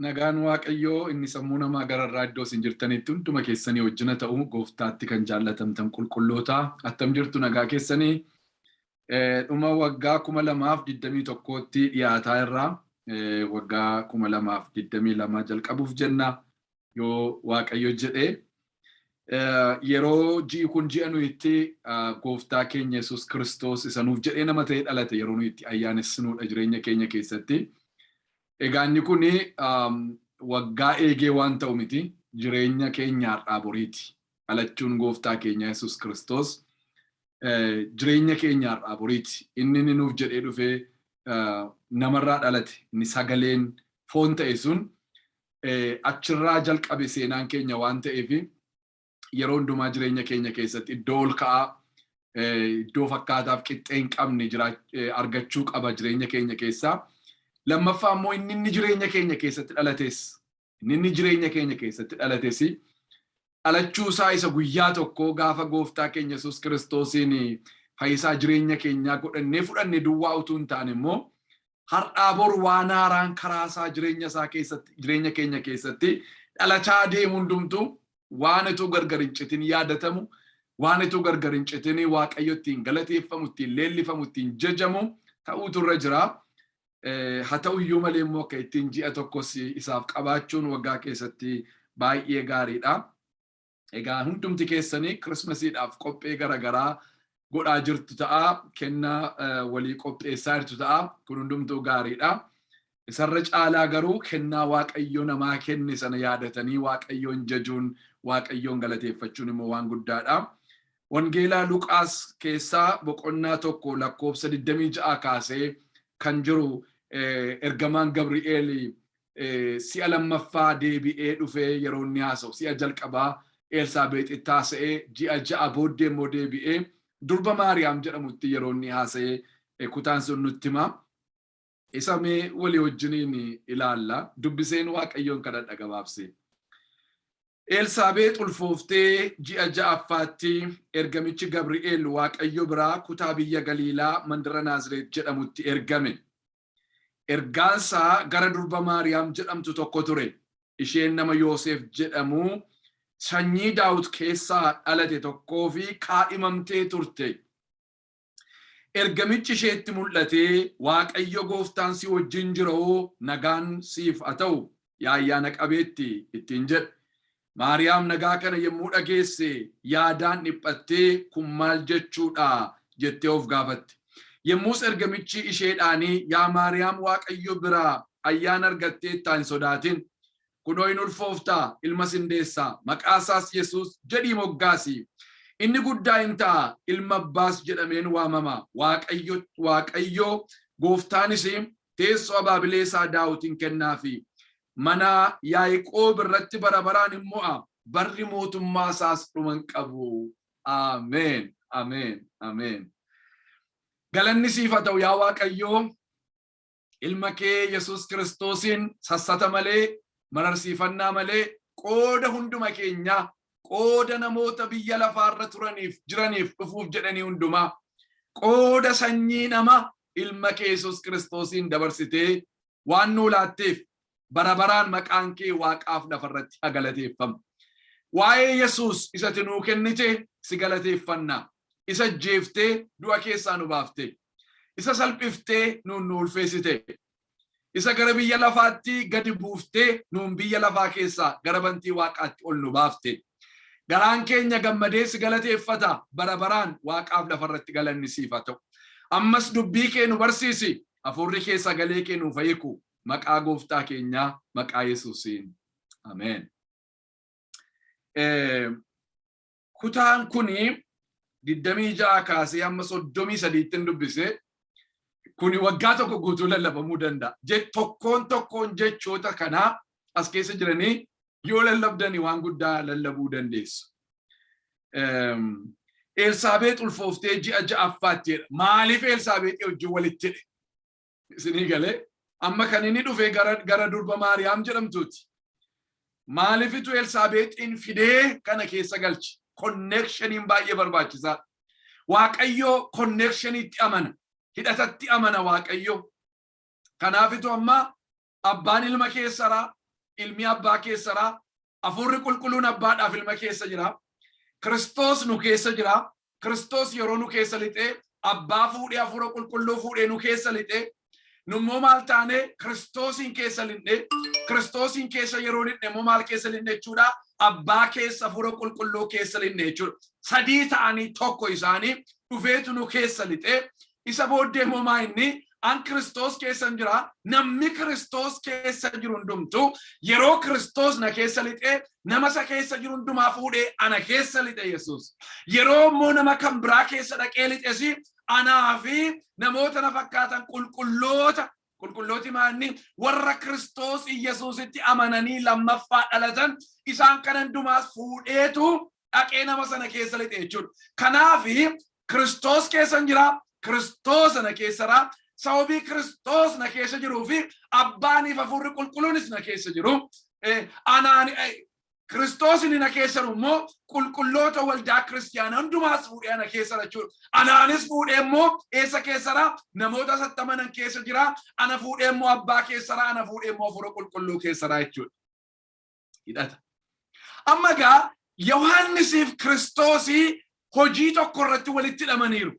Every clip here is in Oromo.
Nagaan Waaqayyoo inni sammuu namaa gararraa iddoo isin jirtanitti hunduma keessanii wajjina ta'u gooftaatti kan jaallatamtan qulqulloota attam jirtu nagaa keessanii dhuma waggaa kuma lamaaf digdamii tokkootti dhiyaataa irraa waggaa kuma lamaaf digdamii lama jalqabuuf jenna yoo Waaqayyo jedhee yeroo ji'i kun ji'a nuyi itti gooftaa keenya Yesuus Kiristoos isa nuuf jedhee nama ta'ee dhalate yeroo nuyi itti ayyaanessinuudha jireenya keenya keessatti. Egaa inni kun waggaa eegee waan ta'u miti jireenya keenya har'aa boriiti. Dhalachuun gooftaa keenya Yesuus Kiristoos jireenya keenya har'aa boriiti. Inni inni nuuf jedhee dhufee namarraa dhalate inni sagaleen foon ta'e sun achirraa jalqabe seenaan keenya waan ta'eef yeroo hundumaa jireenya keenya keessatti iddoo ol ka'aa iddoo fakkaataaf qixxee hin qabne argachuu qaba jireenya keenya keessaa. Lammaffaa immoo inni inni jireenya keenya keessatti dhalates inni inni jireenya keenya keessatti dhalates dhalachuu isaa isa guyyaa tokkoo gaafa gooftaa keenya Yesuus Kiristoosiin fayyisaa jireenya keenyaa godhannee fudhanne duwwaa utuu hin taane immoo har'aa bor waan haaraan karaa isaa jireenya isaa keessatti jireenya keenya keessatti dhalachaa deemu hundumtuu waan utuu gargar hin citin yaadatamu waan utuu gargar hin citin waaqayyo ittiin galateeffamu ittiin leellifamu ittiin jajamu ta'uutu irra jira. Haa ta'u iyyuu malee immoo akka ittiin ji'a tokkos isaaf qabaachuun waggaa keessatti baay'ee gaariidha. Egaa hundumti keessanii Kirismasiidhaaf qophee garaagaraa godhaa jirtu ta'a. Kennaa walii qopheessaa jirtu ta'a. Kun hundumtuu gaariidha. Isarra caalaa garuu kennaa Waaqayyo namaa kenne sana yaadatanii Waaqayyoon jajuun, Waaqayyoon galateeffachuun immoo waan guddaadha. Wangeela Luqaas keessaa boqonnaa 1 lakkoofsa 26 kaasee kan jiru ergamaan Gabri'eel si'a lammaffaa deebi'ee dhufee yeroo inni haasa'u si'a jalqabaa Eelsaabeexitti haasa'ee ji'a ja'a booddee immoo deebi'ee durba Maariyaam jedhamutti yeroo inni haasa'e kutaan sun nutti hima. Isa mee walii wajjiniin ilaalla. Dubbiseen Waaqayyoon kadhadha gabaabsee. Eelsaabeex ulfooftee ji'a ja'affaatti ergamichi Gabri'eel Waaqayyo biraa kutaa biyya Galiilaa mandara Naazireet jedhamutti ergame. Ergaansaa gara durba Maariyaam jedhamtu tokko ture. Isheen nama Yooseef jedhamu sanyii Daawit keessaa dhalate tokkoofi kaadhimamtee turte. Ergamichi isheetti mul'atee, Waaqayyo gooftaan si wajjin jira oo nagaan siif haa ta'u, yaa ayyaana qabeetti! ittiin jedhe. Maariyaam nagaa kana yommuu dhageesse yaadaan dhiphattee kun maal jechuu dha? jettee of gaafatte. Yommus ergamichi isheedhaanii yaa Maariyaam Waaqayyo biraa ayyaana argatteettaa hin sodaatin. Kunoo in ulfoofta, ilmas in deessa, maqaa isaas Yesuus jedhii moggaasi. Inni guddaa in ta'a, Ilma Abbaas jedhamee in waamama. Waaqayyo, Waaqayyo gooftaan ishii teessoo abaabilee isaa Daawit in kennaafi. Mana Yaaqoob irratti bara baraan in mo'a, barri mootummaa isaas dhuma hin qabu. Ameen, ameen, ameen. Galanni siif haa ta'u yaa Waaqayyoo. ilma kee Yesuus Kiristoosiin sassata malee, mararsiifannaa malee qooda hunduma keenyaa, qooda namoota biyya lafaarra turaniif, jiraniif, dhufuuf jedhanii hundumaa, qooda sanyii namaa ilma kee Yesuus Kiristoosiin dabarsitee waan nuu laatteef bara baraan maqaan kee waaqaaf lafarratti haa galateeffamu. Waa'ee Yesuus isa ati nuu kennite si galateeffanna. Isa ajjeeftee du'a keessaa nu baaftee. Isa salphiftee nuun nu ulfeessite. Isa gara biyya lafaatti gadi buuftee nuun biyya lafaa keessaa gara bantii waaqaatti ol nu baafte. Garaan keenya gammadee si galateeffata bara baraan waaqaaf lafarratti galanni siif haa ta'u. Ammas dubbii kee nu barsiisi. Hafuurri kee sagalee kee nuuf haa hiiku. Maqaa gooftaa keenyaa maqaa Yesuusiin. Ameen. kutaan kun 26 kaasee hamma 33tti hin dubbise kun waggaa tokko guutuu lallabamuu danda'a. Je- Tokkoon tokkoon jechoota kanaa as keessa jiranii yoo lallabdanii waan guddaa lallabuu dandeessu. Eem, Elsaabeex ulfooftee ji'a ja'affaatti jedha. Maaliif Elsaabeexii wajjin walitti hidhe? Isinii galee amma kan inni dhufe gara, gara durba Maariyaam jedhamtuuti. Maalifitu Elsaabeexiin fidee kana keessa galche? Konneekshaniin baay'ee barbaachisaa. Waaqayyoo konneekshaniitti amana, hidhatatti amana Waaqayyoo. Kanaafitu amma Abbaan Ilma keessara, Ilmi Abbaa keessara, Afuurri Qulqulluun Abbaadhaaf Ilma keessa jira. Kiristoos nu keessa jira. Kiristoos yeroo nu keessa lixee Abbaa fuudhee Afuura Qulqulluu fuudhee nu keessa lixee nummoo maal taanee Kiristoosiin keessa linne Kiristoosiin keessa yeroo linne immoo maal keessa linne jechuudha abbaa keessa Afuura Qulqulluu keessa linne jechuudha sadii ta'anii tokko isaanii dhufeetu nu keessa lixee Isa booddee immoo maa inni? An Kiristoos keessan jira, namni Kiristoos keessa jiru hundumtu yeroo Kiristoos na keessa lixee nama isa keessa jiru hundumaa fuudhee ana keessa lixe Yesuus. Yeroo immoo nama kan biraa keessa dhaqee lixesi anaa fi namoota na fakkaatan qulqulloota qulqullooti maa inni warra Kiristoos Yesuusitti amananii lammaffaa dhalatan isaan kana hundumaas fuudheetu dhaqee nama sana keessa lixe jechuudha. Kanaaf Kiristoos keessan jira, Kiristoos na keessara, sababii Kiristoos na keessa jiruu fi abbaaniif hafuurri qulqulluunis na keessa jiru. Eh, Anaan eh, Kiristoos inni na keessa jiru immoo qulqulloota waldaa kiristiyaanaa hundumaas fuudhee ana keessa jira jechuudha. Anaanis fuudhee immoo eessa keessa jira? Namoota sattamanan keessa jira. Ana fuudhee immoo abbaa keessa jira. Ana fuudhee immoo hafuura qulqulluu keessa jira jechuudha. hidhata. Amma egaa Yohaannisiif Kiristoosii hojii tokko irratti walitti hidhamaniiru.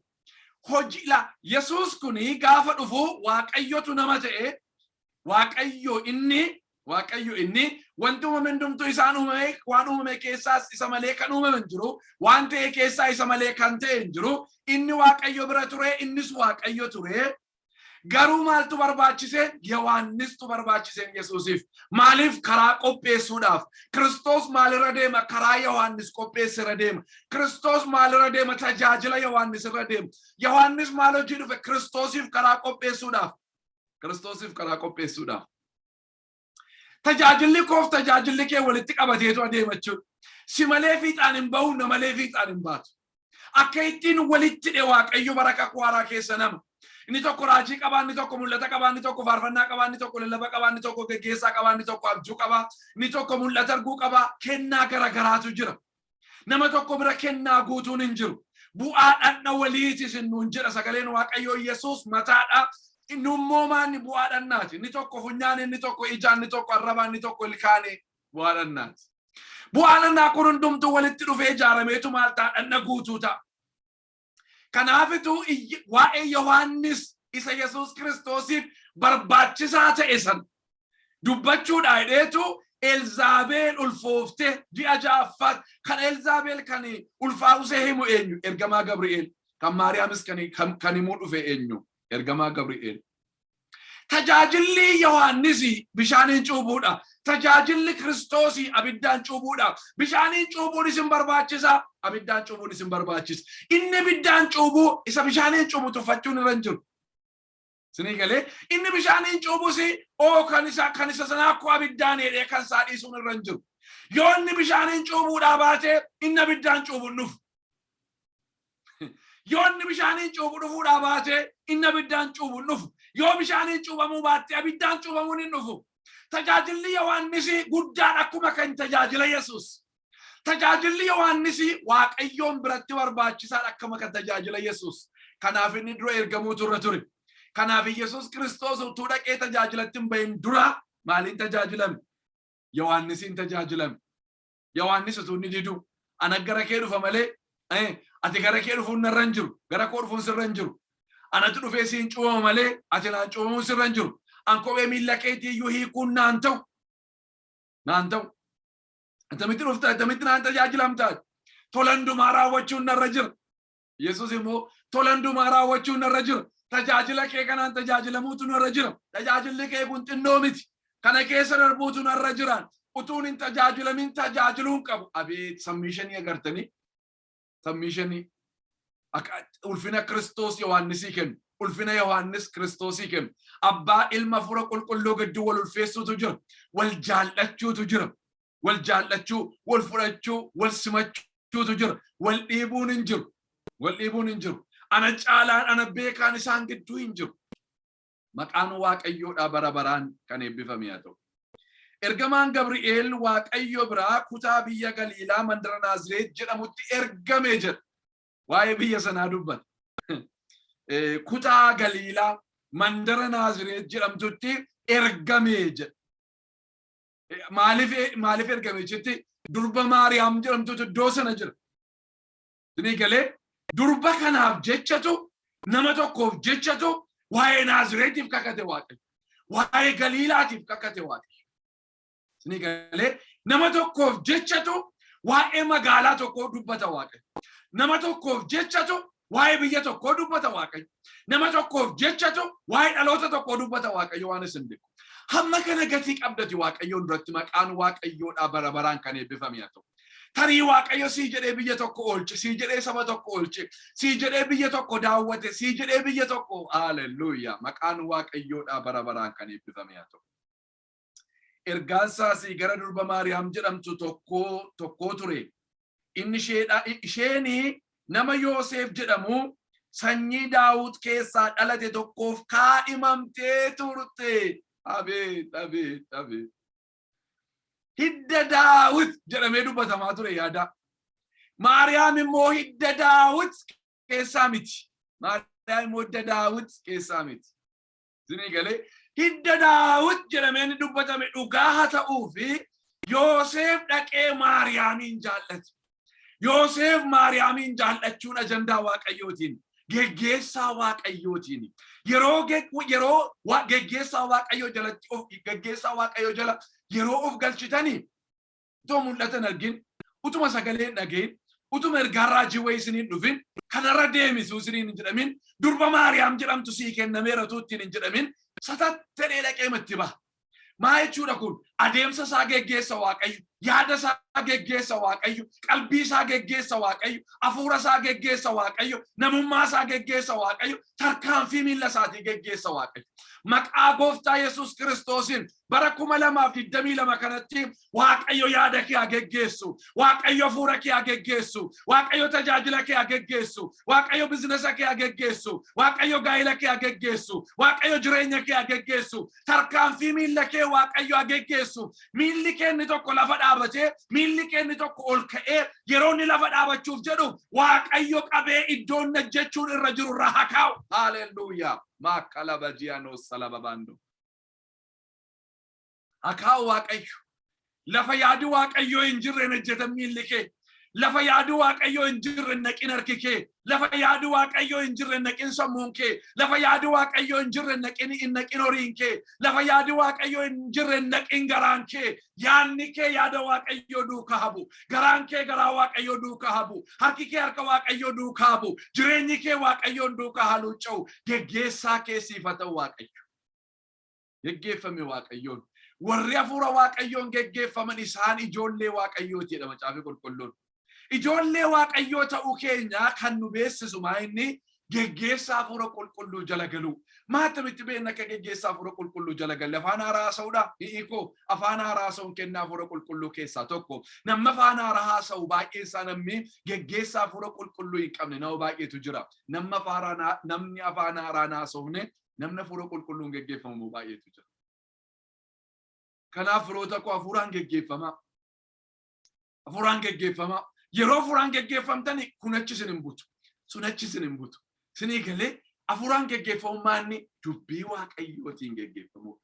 Hojii la Yesuus kun gaafa dhufu Waaqayyotu nama ta'e Waaqayyo inni Waaqayyo inni wanti uumame hundumtuu isaan uumame waan uumame keessaas isa malee kan uumame hin jiru waan ta'e keessaa isa malee kan ta'e hin jiru inni Waaqayyo bira ture innis Waaqayyo ture Garuu maaltu barbaachise? Yohaannistu barbaachise Yesuusiif. Maaliif karaa qopheessuudhaaf? Kiristoos maalirra deema? Karaa Yohaannis qopheesse irra deema. Kiristoos maalirra deema? Tajaajila Yohaannis irra deema. Yohaannis maal hojii dhufe? Kiristoosiif karaa qopheessuudhaaf. Kiristoosiif karaa qopheessuudhaaf. Tajaajilli koof tajaajilli kee walitti qabateetu adeema jechuudha. Si malee fiixaan hin bahu, na malee fiixaan hin baatu. Akka ittiin walitti dhe Waaqayyo bara kakuu haaraa keessa nama. Inni tokko raajii qabaa, inni tokko mul'ata qabaa, inni tokko faarfannaa qabaa, inni tokko lallaba qabaa, inni tokko geggeessaa qabaa, inni tokko abjuu qabaa, inni tokko mul'ata arguu qabaa, kennaa gara garaatu jira. Nama tokko bira kennaa guutuun hin jiru. Bu'aa dhandha waliiti isin nuun jedha sagaleen Waaqayyoo Yesuus mataadha. Inni immoo maanni bu'aa dhandhaati. Inni tokko funyaan, inni tokko ijaan, inni tokko arrabaan, inni tokko ilkaanii bu'aa dhandhaati. Bu'aa dhandhaa kun hundumtuu walitti dhufee ijaarameetu maal ta'a dhandha guutuu ta'a. Kanaafituu iyy- waa'ee Yohaannis isa Yesuus Kiristoosiif barbaachisaa ta'e san dubbachuudha jedheetu Elzaabeel ulfooftee ji'a ja'affaatti kan Elzaabeel kan ulfaa'usee himu eenyu ergamaa Gabri'eel kan Maariyaamis kan kan himuu dhufe eenyu ergamaa Gabri'eel Tajaajilli Yohaannis bishaaniin cuubuudha. Tajaajilli Kiristoos abiddaan cuubuudha. Bishaaniin cuubuun isin barbaachisa, abiddaan cuubuun isin barbaachisa. Inni abiddaan cuubu isa bishaaniin cuubu tuffachuun irra hin jiru. Isinii galee inni bishaaniin cuubus oo kan isa kan isa sanaa akkoo abiddaan hidhee kan isaa dhiisuun irra hin jiru. Yoo inni bishaaniin cuubuudhaa baate inni abiddaan cuubuun dhufu. Yoo inni bishaaniin cuuphu dhufuudhaa baatee inni abiddaan cuuphu hin dhufu. Yoo bishaaniin cuuphamuu baatte abiddaan cuuphamuun hin dhufu. Tajaajilli Yohaannisii guddaan akkuma kan tajaajila Yesuus. Tajaajilli Yohaannisii Waaqayyoon biratti barbaachisaadha akkuma kan tajaajila Yesuus. Kanaaf inni dura ergamuutu irra ture. Kanaaf Yesuus Kiristoos utuu dhaqee tajaajilatti hin bahin dura maaliin tajaajilame? Yohaannisiin tajaajilame. Yohaannis utuu inni diduu ana gara kee dhufa malee eh, ati gara kee dhufuun narra hin jiru gara koo dhufuun sirra hin jiru anatu dhufee siin cuubama malee ati naan cuubamuun sirra hin jiru an kophee miilla keetii iyyuu hiikuun naan ta'u naan ta'u attamitti dhufta attamitti naan tajaajilamta tola hundumaa raawwachuun narra jira Yesus immoo tola hundumaa raawwachuun narra jira. Tajaajila kee kanaan tajaajilamuutu narra jira. Tajaajilli kee kun xinnoo miti. Kana keessa darbuutu narra jira. Utuun hin tajaajilamin tajaajiluu hin qabu. Abeet sammiishanii agartanii? Sammiishanii akka ulfina Kiristoos Yohaannisii kennu. Ulfina Yohaannis Kiristoosii kennu. Abbaa ilma fura qulqulluu gidduu wal ulfeessuutu jira. Wal jaallachuutu jira. wal jaallachuu, wal fudhachuu, wal simachuutu jira. Wal dhiibuun hin jiru. Wal dhiibuun hin jiru. Ana caalaan ana beekaan isaan gidduu hin jiru. Maqaan Waaqayyoodhaa bara baraan kan eebbifame haa ta'u. Ergamaan Gabri'eel Waaqayyo biraa kutaa biyya Galiilaa mandara Naazireet jedhamutti ergame jedha. Waa'ee biyya sanaa dubbata. Kutaa Galiilaa mandara Naazireet jedhamtutti ergame jedha. Maaliif maaliif ergame jetti durba Maariyaam jedhamtutu iddoo sana jira. Isinii galee durba kanaaf jechatu nama tokkoof jechatu waa'ee Naazireetiif kakate Waaqayyo. Waa'ee Galiilaatiif kakate Waaqayyo. Isinii galee nama tokkoof jechatu waa'ee magaalaa tokkoo dubbata Waaqayyo. Nama tokkoof jechatu Waa'ee biyya tokkoo dubbata Waaqayyo. Nama tokkoof jechatu waa'ee dhaloota tokkoo dubbata Waaqayyo waan isin beeku. Hamma kana gatii qabdati Waaqayyoon duratti maqaan Waaqayyoodhaa bara baraan kan eebbifame haa ta'u. Tarii Waaqayyo sii jedhee biyya tokko oolche, sii jedhee saba tokko oolche, sii jedhee biyya tokko daawwate, sii jedhee biyya tokko haalelluuyaa maqaan Waaqayyoodhaa bara baraan kan eebbifame haa ta'u. Ergaan isaas gara durba Maariyaam jedhamtu tokkoo tokkoo ture. Inni isheedha isheen nama Yooseef jedhamu sanyii Daawut keessaa dhalate tokkoof kaadhimamtee turte. Abeet abeet abeet. Hidda Daawit jedhamee dubbatamaa ture yaadaa. Maariyaam immoo hidda Daawit keessaa miti. Maariyaam immoo hidda Daawit keessaa miti. Isinii galee hidda daawit jedhamee inni dubbatame dhugaa haa ta'uu fi Yooseef dhaqee Maariyaamiin jaallate. Yooseef Maariyaamiin jaallachuun ajandaa Waaqayyootiin geggeessaa Waaqayyootiin yeroo ge- yeroo wa- geggeessaa Waaqayyoo jalatti of geggeessaa Waaqayyoo jala yeroo of galchitanii utuma mul'ata hin argin, utuma sagalee hin dhagahin, utuma ergaan raajii wayii isiniin dhufin, kanarra deemisu isiniin hin jedhamin, durba Maariyaam jedhamtu sii kennameera utuu ittiin hin jedhamin, satatta'ee dhaqeema itti baha. Maa jechuudha kun adeemsa isaa geggeessa Waaqayyo, yaada isaa geggeessa Waaqayyo, qalbii isaa geggeessa Waaqayyo, hafuura isaa geggeessa Waaqayyo, namummaa isaa geggeessa Waaqayyo, tarkaanfii miila isaatii geggeessa Waaqayyo. Maqaa gooftaa Yesuus Kiristoosiin bara kuma lamaaf digdamii lama kanatti waaqayyo yaada kee haa geggeessu waaqayyo hafuura kee haa geggeessu waaqayyo tajaajila kee haa geggeessu waaqayyo bizinesa kee haa geggeessu waaqayyo gaa'ila kee haa geggeessu waaqayyo jireenya kee haa geggeessu tarkaanfii miilla kee waaqayyo haa geggeessu miilli kee inni tokko lafa dhaabatee miilli kee inni tokko ol ka'ee yeroo inni lafa dhaabachuuf jedhu waaqayyo qabee iddoo inni hojjechuun irra jiru irra haa kaa'u haleluuyaa maakala bajiyaanoo salababaandoo Akaa waaqayyo lafa yaadi waaqayyoo hin jirre hin hojjetan miilli kee lafa yaadi waaqayyoo hin jirre hin naqin harki kee lafa yaadi waaqayyoo hin jirre hin naqin sammuun kee lafa yaadi waaqayyoo hin jirre hin naqin hin naqin horiin kee lafa yaadi waaqayyoo hin jirre hin naqin garaan kee yaanni kee yaada waaqayyoo duukaa habu garaan kee garaa waaqayyoo duukaa habu harki kee harka waaqayyoo duukaa habu jireenyi kee waaqayyoon duukaa haaluucca'u geggeessaa kee siif haa ta'u waaqayyo geggeeffame Waaqayyoon. Warri hafuura Waaqayyoon geggeeffaman isaan ijoollee Waaqayyooti jedha Macaafni Qulqulluun. Ijoollee Waaqayyoo ta'uu keenya kan nu beeksisu maa inni geggeessaa hafuura qulqulluu jala galuu. Maa akkamitti beekna akka geggeessaa hafuura qulqulluu jala galle afaan haaraa haasa'uudha? Hi'ikoo afaan haaraa haasa'uun kennaa hafuura qulqulluu keessaa tokko. Namni afaan haaraa haasa'u baay'een isaa namni geggeessaa hafuura qulqulluu hin qabne nama baay'eetu jira. Namni afaan haaraa namni afaan haaraa hin haasofne namni hafuura qulqulluun geggeeffamu immoo baay'eetu jira. Kanaaf firoota koo hafuuraan geggeeffamaa. Hafuuraan geggeeffamaa. Yeroo hafuuraan geggeeffamtani kun achi isin hin butu. Sun achi isin hin butu. Isinii galee hafuuraan geggeeffamummaa inni dubbii waaqayyootiin geggeeffamuu.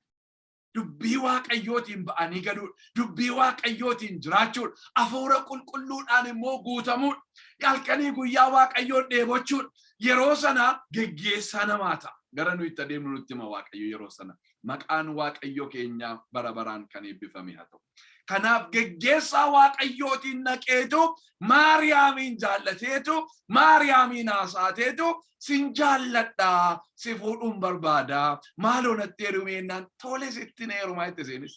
dubbii waaqayyootiin ba'anii galuudha. Dubbii waaqayyootiin jiraachuudha. Hafuura qulqulluudhaan immoo guutamuudha. Halkanii guyyaa waaqayyoon dheebochuudha. Yeroo sana geggeessaa namaa ta'a. Gara nuyi itti adeemnu nutti hima waaqayyo yeroo sana. Maqaan waaqayyo keenyaa bara baraan kan eebbifame haa ta'u. Kanaaf geggeessaa waaqayyootiin naqeetu Maariyaamiin jaallateetu Maariyaamiin haasaateetu sin jaalladha si fuudhuun barbaada maaloo natti heerumii jennaan tole sitti na heerumaa jette seenis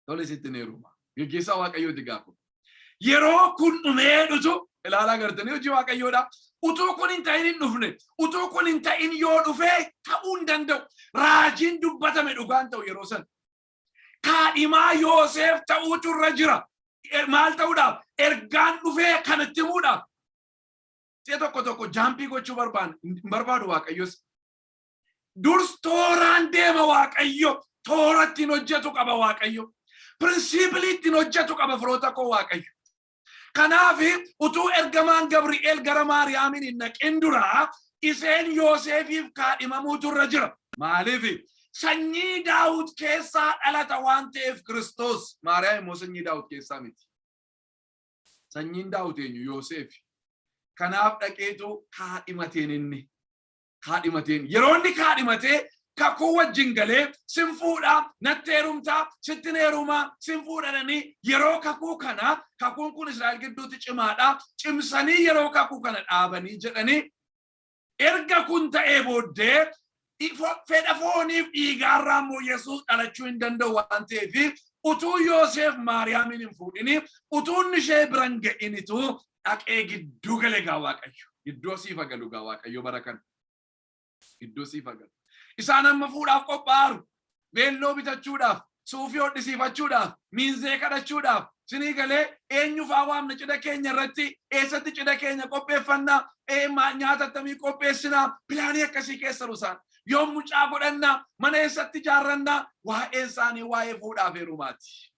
tole sitti na heerumaa geggeessaa waaqayyooti gaafa yeroo kun dhumee dhutu ilaalaa gartanii hojii waaqayyoodha utuu kun hin ta'in hin dhufne utuu kun hin ta'in yoo dhufee ta'uu hin danda'u raajiin dubbatame dhugaan ta'u yeroo san kaadhimaa Yooseef ta'uutu irra jira maal ta'uudhaaf ergaan dhufee kan itti himuudhaaf Si'a tokko tokko jaampii gochuu barbaadu hin barbaadu waaqayyos. Durs tooraan deema waaqayyo toora ittiin hojjetu qaba waaqayyo. Pirinsipilii ittiin hojjetu qaba firoota koo waaqayyo. Kanaaf utuu ergamaan Gabri'eel gara Maariyaamiin hin naqin dura isheen Yooseefiif kaadhimamuutu irra jira. Maaliif? Sanyii Daawit keessaa dhalata waan ta'eef Kiristoos. Maariyaam immoo sanyii Daawit keessaa miti. Sanyiin Daawit eenyu? Yooseefi. Kanaaf dhaqeetu kaadhimateen inni. Kaadhimateen. Yeroo inni kaadhimatee kakuu wajjin galee sin fuudha, natti heerumta, sittin heeruma, sin fuudhadhanii yeroo kakuu kana kakuun kun Israa'el gidduutti cimaadha. Cimsanii yeroo kakuu kana dhaabanii jedhanii Erga kun ta'ee booddee fedha fooniif dhiigaarraa immoo Yesuus dhalachuu hin danda'u waan ta'eef utuu Yooseef Maariyaamiin hin fuudhin utuu inni ishee bira hin ga'initu dhaqee gidduu gale gaa Waaqayyo. Gidduu siif haa galu gaa Waaqayyo bara kana. Gidduu siif haa galu. Isaan amma fuudhaaf qophaa'aru. Veelloo bitachuudhaaf, suufii hodhisiifachuudhaaf, miinzee kadhachuudhaaf, isinii galee, eenyu faa waamna cidha keenya irratti, eessatti cidha keenya qopheeffanna, nyaata attamii qopheessina, pilaanii akkasii keessa jiru isaan. Yoom mucaa godhanna, mana eessatti ijaarranna, waa'een isaanii waa'ee fuudhaaf heerumaati.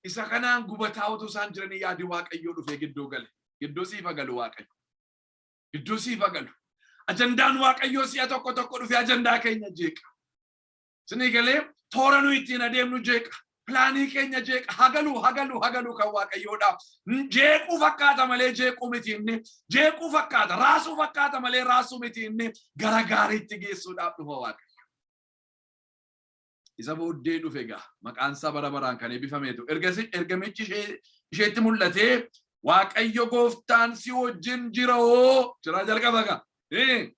Isa kanaan gubataa utuu isaan jiranii yaadi Waaqayyoo dhufee gidduu gale. Gidduu siif haa galu Waaqayyo. Gidduu siif agalu. Ajandaan Waaqayyoo si'a tokko tokko dhufee ajandaa keenya jeeqa. Sinii galee toora nuyi ittiin adeemnu jeeqa. Pilaanii keenya jeeqa. Hagalu, hagalu, hagalu kan Waaqayyoodha. Jeequu fakkaata malee jeequu miti inni. Jeequu fakkaata, raasuu fakkaata malee raasuu miti inni. Gara gaariitti geessuudhaaf dhufa Waaqayyo. isa booddee dhufe egaa maqaan isaa bara baraan kan eebbifameetu ergasi ergamichi ishee isheetti mul'atee waaqayyo gooftaan si wajjin jira hoo jiraa jalqaba egaa Eh,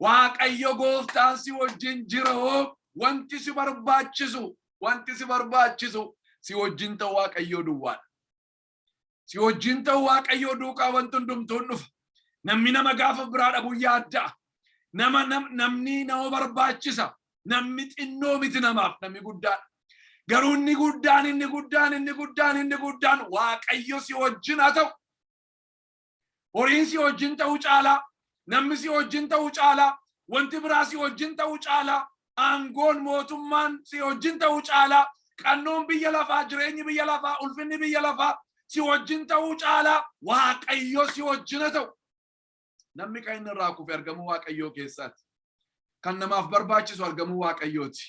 waaqayyo gooftaan si wajjin jira hoo wanti si barbaachisu wanti si barbaachisu si wajjin ta'u waaqayyoo duwwaadha Si wajjin ta'u Waaqayyoo duukaa wanti hundumtuun dhufa. Namni nama gaafa biraa dhabu yaadda'a. Nama nam- namni nama barbaachisa. Namni xinnoo miti namaaf namni guddaan. Garuu inni guddaan inni guddaan inni guddaan inni guddaan Waaqayyo si wajjin haa ta'u. Horiin si wajjin ta'u caalaa, namni si wajjin ta'u caalaa, wanti biraa si wajjin ta'u caalaa, aangoon, mootummaan si wajjin ta'u caalaa, qannoon biyya lafaa, jireenyi biyya lafaa, ulfinni biyya lafaa si wajjin ta'uu caalaa Waaqayyo si wajjin haa ta'u. Namni kan inni irraa kufe argamuu Waaqayyoo keessaati. Kan namaaf barbaachisu argamuu Waaqayyooti.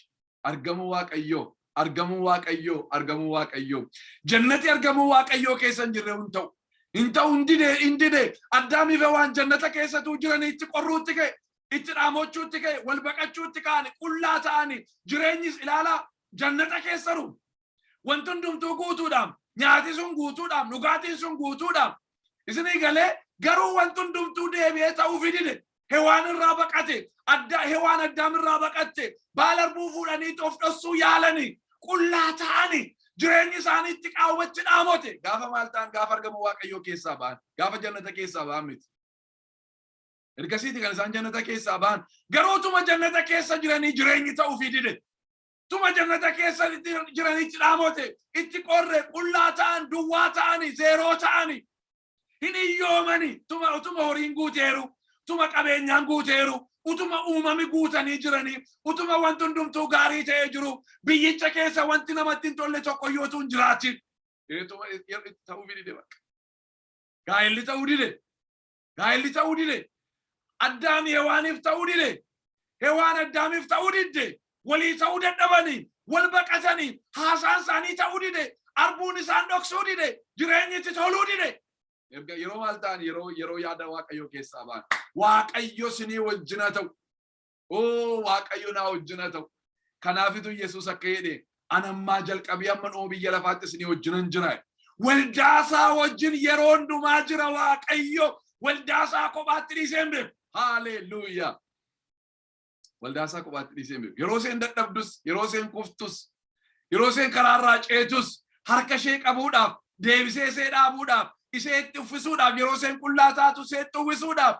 argamuu waaqayyoo argamuu waaqayyoo argamuu waaqayyoo jannati argamuu waaqayyoo keessa hin jirre hin ta'u hin ta'u hin dide hin dide addaamiif waan jannata keessatu jiranii itti qorruutti ka'e itti dhaamochuutti ka'e wal baqachuutti ka'ani qullaa ta'ani jireenyis ilaalaa jannata keessaru Wanti hundumtuu guutuudhaam. Nyaati sun guutuudhaam. Dhugaatiin sun guutuudhaam. Isinii galee garuu wanti hundumtuu deebi'ee ta'uu fidide. Hewaan irraa baqate. Adda hewaan addaam irraa baqatte. Baala arbuu fuudhanii of dhossuu yaalani. Qullaa ta'ani. Jireenyi isaanii itti qaawwachi dhaamote. Gaafa maal ta'an gaafa argama Waaqayyoo keessaa ba'an. Gaafa jannata keessaa ba'an miti. Ergasiiti kan isaan jannata keessaa ba'an. Garuu utuma jannata keessa jiranii jireenyi ta'uu fidide. tuma jannata keessa itti jiranii cidhaamote itti qorre qullaa ta'an duwwaa ta'ani zeeroo ta'ani hin iyyoomani tuma utuma horiin guuteeru utuma qabeenyaan guuteeru utuma uumami guutanii jiranii utuma wanti hundumtuu gaarii ta'ee jiru biyyicha keessa wanti namatti hin tolle tokko iyyuu utuu hin jiraatin ta'uu dide bakka gaa'elli ta'uu dide gaa'elli ta'uu dide. Addaami Hewaaniif ta'uu dide. Hewaan Addaamiif ta'uu didde. Walii ta'uu dadhabanii, wal baqatanii, haasaan isaanii ta'uu dide. Arbuun isaan dhoksuu dide. Jireenyi itti toluu dide. Erga yeroo maal ta'an yeroo yeroo yaada Waaqayyoo keessaa ba'an. Waaqayyo sinii wajjin haa ta'u. Oo Waaqayyo naa wajjin haa ta'u. Kanaafitu Yesuus akka jedhe an ammaa jalqabee amma dhuma biyya lafaatti isinii wajjinan jira. Waldaasaa wajjin yeroo hundumaa jira Waaqayyo waldaasaa kophaatti dhiisee hin beeku. Haaleeluuyaa. Waldaasaa kophaatti dhiisee hin beeku. Yeroo isheen dadhabdus, yeroo isheen kuftus, yeroo isheen karaarraa ceetus harka ishee qabuudhaaf, deebisee ishee dhaabuudhaaf, ishee itti uffisuudhaaf, yeroo isheen qullaa taatu ishee itti uwwisuudhaaf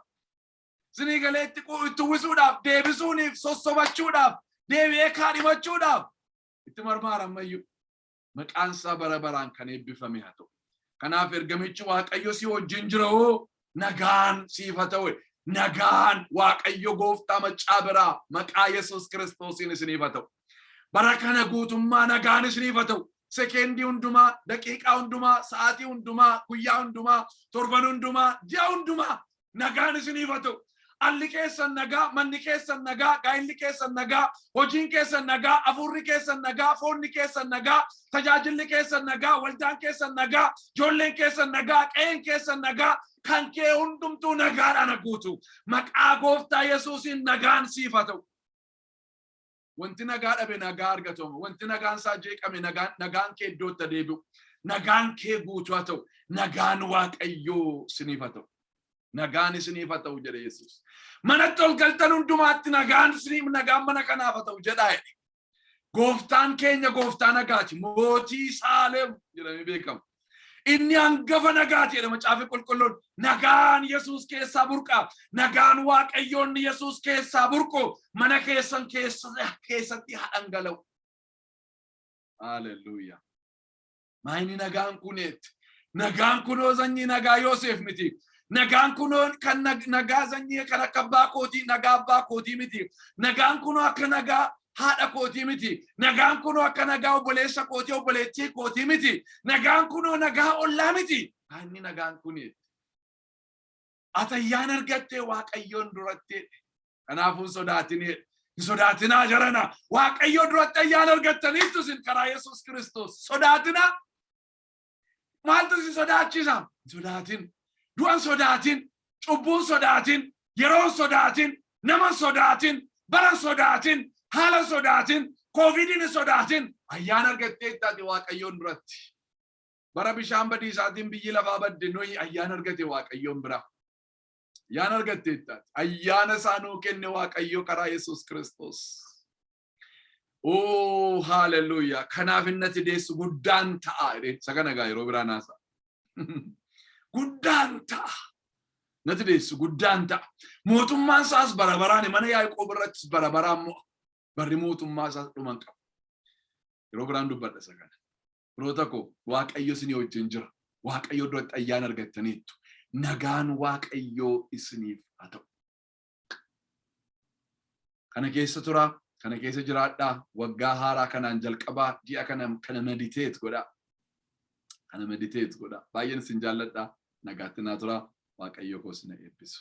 Isinii galee itti qu- itti uwwisuudhaaf, deebisuuniif, sossobachuudhaaf, deebi'ee kaadhimachuudhaaf itti marmaara ammayyuu. Maqaan isaa bara baraan kan eebbifame haa ta'u. Kanaaf ergamichi Waaqayyo si wajjin jira hoo nagaan siif haa ta'u. Nagaan Waaqayyo gooftaa maccaa biraa maqaa Yesuus Kiristoosiin isiniif haa ta'u. Bara kana guutummaa nagaan isiniif haa ta'u. sekeendii hundumaa, daqiiqaa hundumaa, sa'aatii hundumaa, guyyaa hundumaa, torban hundumaa, ji'a hundumaa nagaan isiniif haa ta'u. Alli keessan nagaa, manni keessan nagaa, gaa'illi keessan nagaa, hojiin keessan nagaa, afuurri keessan nagaa, foonni keessan nagaa, tajaajilli keessan nagaa, waldaan keessan nagaa, ijoolleen keessan nagaa, qe'een keessan nagaa, kan kee hundumtuu nagaadhaan guutu. Maqaa gooftaa Yesuusiin nagaan siif haa ta'u. Wanti nagaa dhabe nagaa argatamu. Wanti nagaan isaa jeeqame nagaan nagaan kee iddootti haa deebi'u. Nagaan kee guutuu haa ta'u. Nagaan Waaqayyoo isiniif haa ta'u. Nagaan isiniif haa ta'u jedhe Yesuus. Manatti ol galtan hundumaatti nagaan isiniif nagaan mana kanaaf haa ta'u jedhaa jedhe. Gooftaan keenya gooftaa nagaati. Mootii Saalem jedhamee beekama. Inni hangafa nagaati jedha macaafi qulqulluun. Nagaan Yesuus keessaa burqa. Nagaan Waaqayyoonni Yesuus keessaa burqu mana keessan keessatti haa dhangala'u. Haaleluyyaa. Maayini nagaan kuneetti. Nagaan kunoo sanyii nagaa Yooseef miti. Nagaan kunoo kan nagaa sanyii kan akka abbaa kootii nagaa abbaa kootii miti. Nagaan kunoo akka nagaa haadha kootii miti. Nagaan kunoo akka nagaa obboleessa kootii obboleettii kootii miti. Nagaan kunoo nagaa ollaa miti. Inni nagaan kun ati ayyaana argattee Waaqayyoon duratti kanaafuu hin sodaatinii hin sodaatinaa jarana Waaqayyoo duratti ayyaana argattaniittu isin karaa Yesuus Kiristoos sodaatinaa Maaltu si sodaachisa? Hin sodaatin. Du'an sodaatin. Cubbuun sodaatin. Yeroon sodaatin. Naman sodaatin. Baran sodaatin. Haalan sodaatin. Kooviidiin hin sodaatin. Ayyaana argattee taate Waaqayyoon duratti. Bara bishaan badiisaatiin biyyi lafaa badde nuyi ayyaana argate Waaqayyoon bira. Ayyaana argattee taate. Ayyaana isaa nuu kenne Waaqayyo karaa Yesuus Kiristoos. Ooh, hallelujah. Kanaaf inni ati deessu guddaan ta'a. jedheen. Isa kana egaa yeroo biraa naasa. Guddaan ta'a. Nati deessu guddaan ta'a. Mootummaan isaas bara baraan mana Yaaqoob irrattis bara baraan mo'a. Barri mootummaa isaas dhuma hin qabu. Yeroo biraan dubbadha isa kana. Firoota koo Waaqayyo isinii wajjin jira. Waaqayyo duratti ayyaana argattaniittu. Nagaan Waaqayyoo isiniif haa ta'u. kana keessa turaa kana keessa jiraadhaa waggaa haaraa kanaan jalqabaa ji'a kana kana mediteet godhaa kana mediteet godhaa baay'een isin jaalladhaa nagaatti naa turaa waaqayyoo koo sina eebbisu.